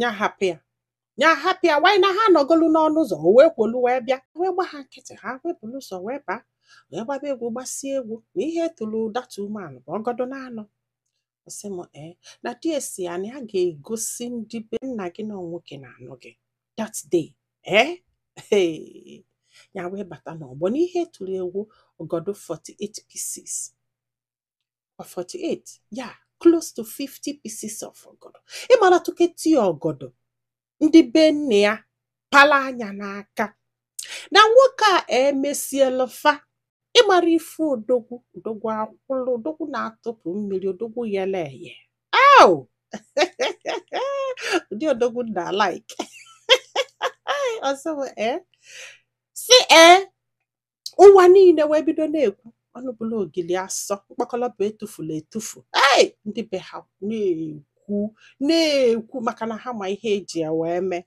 ya hapụ ya ya hapụ ya wanyị na ha anọgolu n'ọnụ ụzọ o wee kwolu wee bịa wee gba ha nkịtị ha wee bulu ụzọ wee baa wee gbaba egwu gbasie egwu na ihe tụrụ data umeala bụ ọgọdọ na anọ ọ sị m ee na di ya sị ya na ya ga-egosi ndị be nna gị na nwoke na-anụ gị that day ee Hey! ya wee bata n'ọgbọ n'ihe tụrụ egwu ọgọdọ 48 pieces or 48 yeah close to 50 pieces of ọgọdọ ịmara tụketi ọgọdọ ndị be nne ya pala anya n'aka na nwoke a emesiela fa ịmara ife odogwu odogwu akwụlụ odogwu na-atụpụ mmiri odogwu yele eye au ụdị odogwu m na-alike ọ sị m ee sị ee ụwa niile wee bido na-ekwu ọnụ bụla ogili asọ mkpakọlọbụ etufula etufu ei ndị be ha na-ekwu na-ekwu maka na ha ma ihe e ji ya wee mee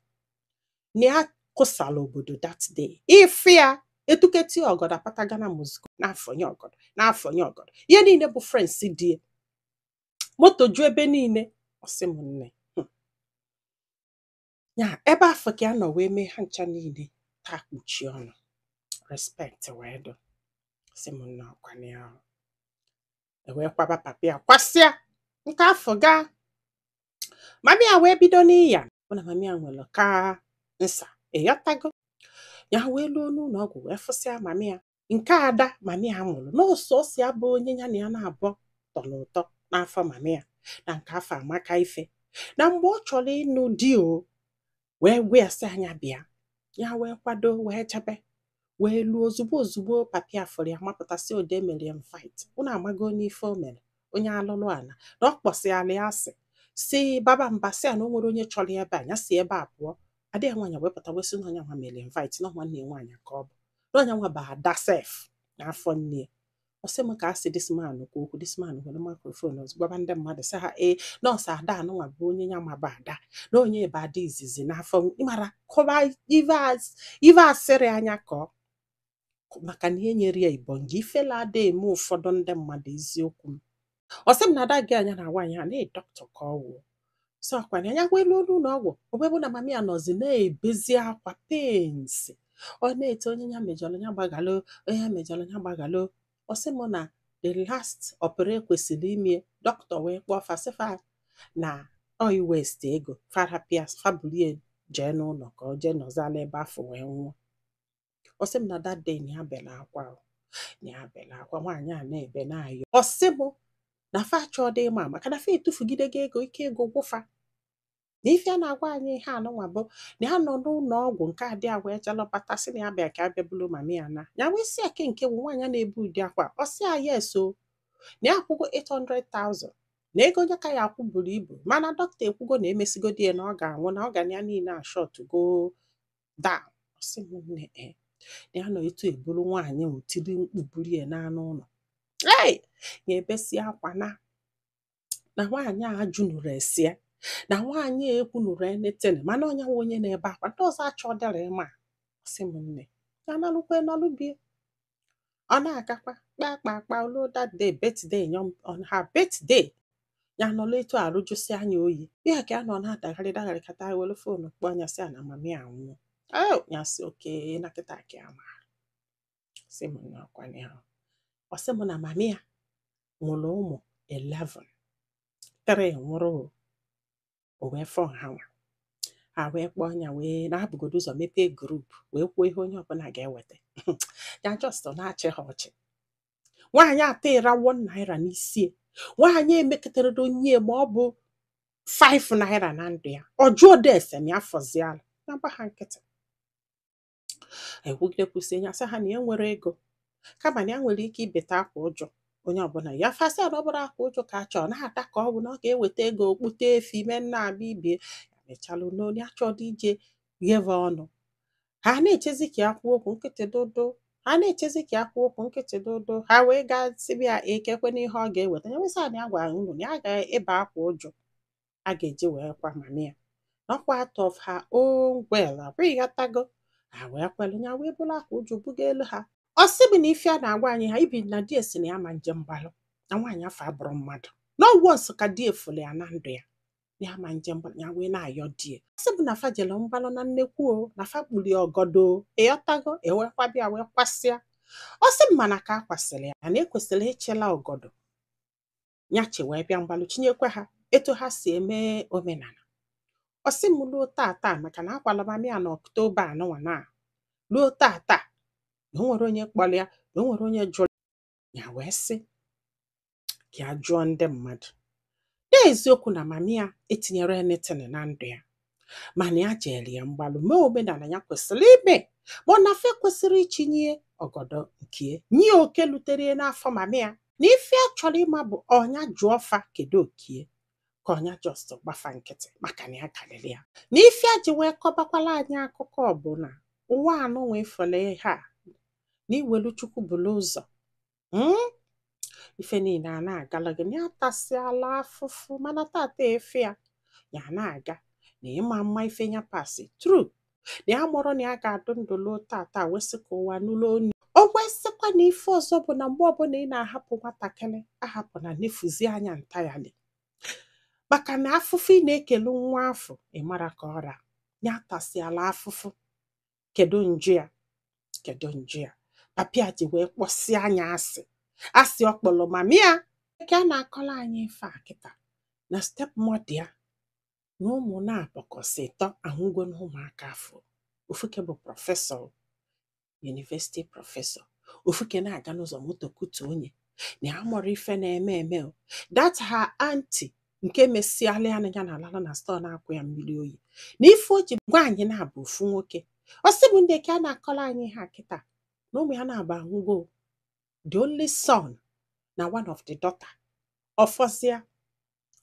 na ya kụsala obodo that day ife ya etuketi ọgọdọ apata gana mozgo n'afọ nye ọgọdọ n'afọ nye ọgọdọ ihe niile bụ friends di ya moto ju ebe niile ọ sị m nne ya ebe afụ ka ya nọ wee mee ha ncha niile taa kpuchie ọnụ respect wee dụ ọ sị m nne ọkwanye ahụ e wee kwaba papa ya kwasịa nke afụ gaa mami ya wee bido n'iya bụ na mami ya nwere cancer ị ghọtago ya wee luo n'ụlọ ọgwụ wee fụsịa mami ya nke ada mami ya mụrụ n'ọsọsọ ya bụ onye ya na ya naabọ tọ n'ụtọ n'afọ mami ya na nke afụ amaka ife na mgbe ọ chọrọ ịnụ di o wee gwa ya sị ya nya bịa ya wee kwado wee jebe wee luo ozugbo ozugbo papa ya fụrụ ya mapụta sị onye mere ya invite unu amaghị onye ife o mere onye alụlụ ala na ọ kpọsịala ya asị si baba mba sị ya na o nwero onye chọrọ ya ebe a ya si ebe a pụọ ada ya nwaanyị wee pụta wee sị na ọ nya nwa mere ya invite na nwanne ya nwaanyị ka ọ bụ na ọ nya nwa bụ ada sef n'afọ nne ya ọ sị m ka a sị this man kwuo okwu this man were microphone ọzọ gwaba ndị mmadụ sị ha ee na ọ sọ ada a nụnwa bụ onye ya ma bụ ada na ọ nya bụ ada izizi n'afọ ịmara kọba ive as- ive a sịrị ya nya kọọ maka na e nyere ya ibonge ifele ada eme ụfọdụ ndị mmadụ eziokwu m ọ sị m na ada gị anya na nwaanyị a na dọkịta ka ọ wụ so ọkwa nya wee luo n'ụlọ ọgwụ o wee bụ na mami ya nọzi na-ebezi akwa pains ọ na-eti onye ya mejọrọ ya gbaghalụ onye ya mejọrọ ya gbaghalụ ọ sị m na the last oper e kwesịrị ime dọkịta wee kpọọ fa sị fa na ọ ị waste ego fa rapụ ya sị fa bulu ya jee n'ụlọ ka ọ jee nọzala ebe afụ wee nwụọ ọ sị m na that day na ya bela akwa o. na ya bela akwa nwaanyị a na-ebe na-ayọ ọ sị m na fa achọọdị ịma maka na fa etufugidego ego ike ego gwụ fa na ife a na-agwa anyị ihe anụnwa bụ na ya nọ n'ụlọ ọgwụ nke adị a wee jalọbata sị na ya bịa ka a bịa bulu mami ya na ya wee sị ya ke nke bụ nwaanyị a na-ebe ụdị akwa ọ sị ya yes o na ya akwụgo 800,000 na ego ya ka ya akwụ buru ibu mana dọkịta ekwugo na emesigodi ya na ọ ga-anwụ na organ ya niile ashọtgo down ọ sị m nne e ya nọ etu e buru nwaanyị ahụ tiri mkpu buru ya naa n'ụlọ ei ya ebesie akwa na na nwaanyị a jụnụrụ esi ya na nwaanyị a ekwunụrụ enetene mana onye nwe onye na-ebe akwa ndị ọzọ achọdịrọ ịma ọ sị m nne ya nalukwa nalu be ya ọ na-agakwa kpakpa akpa o lu that day birthday ya on her birthday ya nọla etu arụ jụsịa nya oyi ya ka a nọ na-adagharị dagharị kata were fonu kpọọ nya sị a na mami anwụọ ee ya sị okay na kịta ka ya ma sị m na akwanye ahụ ọ sị m na mami ya mụrụ ụmụ 11 three nwụrụ o o wee fọ ha nwa ha wee kpọọ nya wee na-ebugodo ụzọ mepee group wee kwuo ihe onye ọbụla ga-eweta ya just na-achị ha ọchị nwaanyị atụrọ 1 naira n'isi ya nwaanyị emekatarọ nye ya ma ọ bụ 5 naira na ndụ ya ọ jụọdị ese m ya fọziala na-agba ha nkịtị ekwugide kwụsị ya sị ha na ya enwerọ ego kama na ya nwere ike ibeta akwa uju onye ọbụla ya fa sị na ọ bụrụ akwa uju ka a chọọ na-ata ka ọ bụ na ọ ga-eweta ego o kpụte efi mee nna abịa be ya mechalụ na onye achọdị ije gheve ọnụ ha na-echezi ka ya kwuo okwu nkịtị dodo ha na-echezi ka ya kwuo okwu nkịtị dodo ha wee gaa sị bịa kekwanụ ihe ọ ga-eweta ya wee sị na ya gwara unu na ya ga-ebe akwa uju a ga-eji wee kwa mami ya na ọkwa out of her own will ọ bụ ịghọtago ha wee kwelu ya wee buru akwa uju bugaalụ ha ọ sị m na ife a na-agwa anyị ihe a bụ na di ya sị na ya ma nje mgbalụ na nwaanyị afụ abụrọ mmadụ na ọwụọ nsọ ka di efule ya na ndụ ya na ya ma nje mgbalụ ya wee na-ayọ di ya sị m na fa jere mgbalụ na nnekwu o na fa kpuli ọgọdọ o ịghọtago e weekwa bịa wee kwasịa ọ sị m mana ka a kwasịrị ya na ekwesịrị ịchịla ọgọdọ ya chị wee bịa mgbalụ chinyekwa ha etu ha si eme omenala ọ sị m ruo tata maka na a kwala mami ya na ọktoba anụnwa na ruo tata na o nwerọ onye kpọrọ ya na o nwerọ onye jụrụ ya wee sị ka ya jụọ ndị mmadụ na eziokwu na mami ya etinyerọ anything na ndụ ya mana ya jere ya mgbalụ mee omenala ya kwesịrị ime ma ọ na fa kwesịrị ichinye ọgọdọ nke nye oke lutere ya n'afọ mama ya na ife a chọrọ ịma bụ ọ nya jụọ fa kedu oke ya ka ọ nya just gba fa nkịtị maka na ya karịrị ya na ife a ji wee kọbakwala anyị akụkọ bụ na ụwa anụ wee fọle ihe a na i welu chukwu buru ụzọ hmm? ife niile a na-agala gị na ya tasịala afụfụ mana tata ife ya ya na-aga na ịma mma ife ya pass through na ya amarọ na ya ga-adị ndụ luo tata wee sị ka ụwa nụlụ onu o wee sịkwa na ife ọzọ bụ na mgbe ọbụla ị na-ahapụ nwatakịrị ahapụ na nefuzi anya ntayali maka na afụfụ ị na-ekele nwa afụ ị mara ka ọ ra ya tasịala afụfụ kedu njọ ya kedu njọ ya papa ya ji wee kpọsịa nya asị asị ọ kpọrọ mama ya ka a na-akọrọ anyị ife a kịta na stepmother ya na ụmụ naabọ ka ọ sị ịtọ anwụgo na ụmụaka afụ ofuke bụ prọfesọ yunivesiti prọfesọ ofuke na-aga n'ụzọ moto kụtuo nya na ya amarọ ife na-eme eme o. that her aunty nke mesịala ya na ya na-alala na store na-akwụ ya mmiri oyi na ife o ji nwanyị naabọ ofu nwoke ọ sị m nne ka a na-akọrọ anyị ihe a kịta na ụmụ ya naabọ anwụgo the only son na one of the daughter ọ fọzịa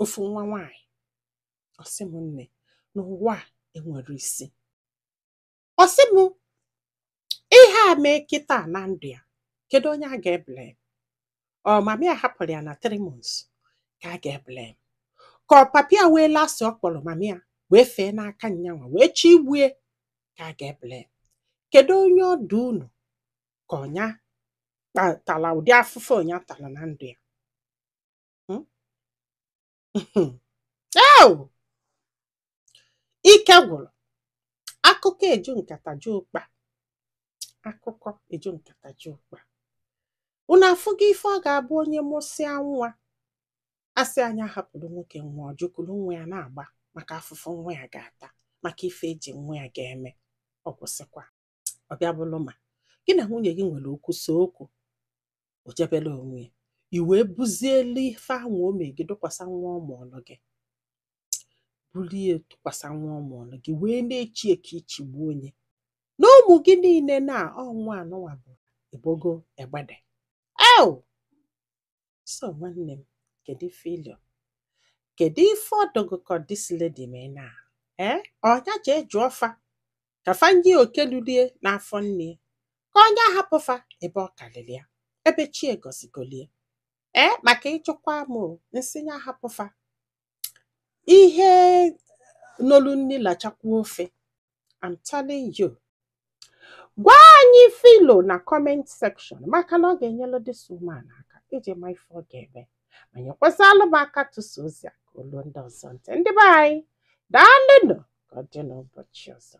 ofu nwa nwanyị ọ sị m nne na ụwa enwerọ isi ọ sị m ihe a mee kịta na ndụ ya kedu onye a ga-ebele ọ mama ya hapụrụ ya na three months ka a ga-ebele ka ọ papa ya welu asị ọ kpọrọ mama ya wee fee n'aka nya nwa wee chigbue ka a ga-ebele kedu onye ọ dụ unu ka ọ nya tala ụdị afụfụ ọ nya tala na ndụ ya ike gwụrụ akụkọ eju nkata ju ụkpa akụkọ eju nkata ju ụkpa unu afụgo ife ọ ga-abụ onye mụsịa nwa a sị nya hapụrụ nwoke nwa ọ jụ kuru nwa ya na-agba maka afụfụ nwa ya ga-ata maka ife e ji nwa ya ga-eme ọ kwụsịkwa ọ bịa bụrụ ma gị na nwunye gị nwere okwu so okwu o jebela onwe ya i wee buzielu ife anwa o mee gị dụkwasa nwa ọ mụọlụ gị bulie tụkwasa nwa ọ mụọlụ gị wee na-echi ya ka i chigbuo nya na ụmụ gị niile na ọnwa anụnwa bụ ebogo egbede eo So nwanne m, kedu ife i lo? Kedu ife ọ dụ gị ka this lady mee na ee ọ nya jee jụọ fa ka fa nye ya oke lulu ya n'afọ nne ya, ka ọ nya hapụ fa ebe ọ karịrị ya ebe chi agọzigolu ya ee maka ị jụkwa m o, m sị ya hapụ fa ihe nolu nni lachakwa ofe I'm telling you gwa anyị ife i lo na comment section maka na ọ ga-enyelu this woman aka iji ma ife ọ ga-eme ma nyekwasịalụ m aka tụsa ozi a ka o lu ndị ọzọ ntị ndị be anyị daalụnụ ka ọ dị n'ụbọchị ọzọ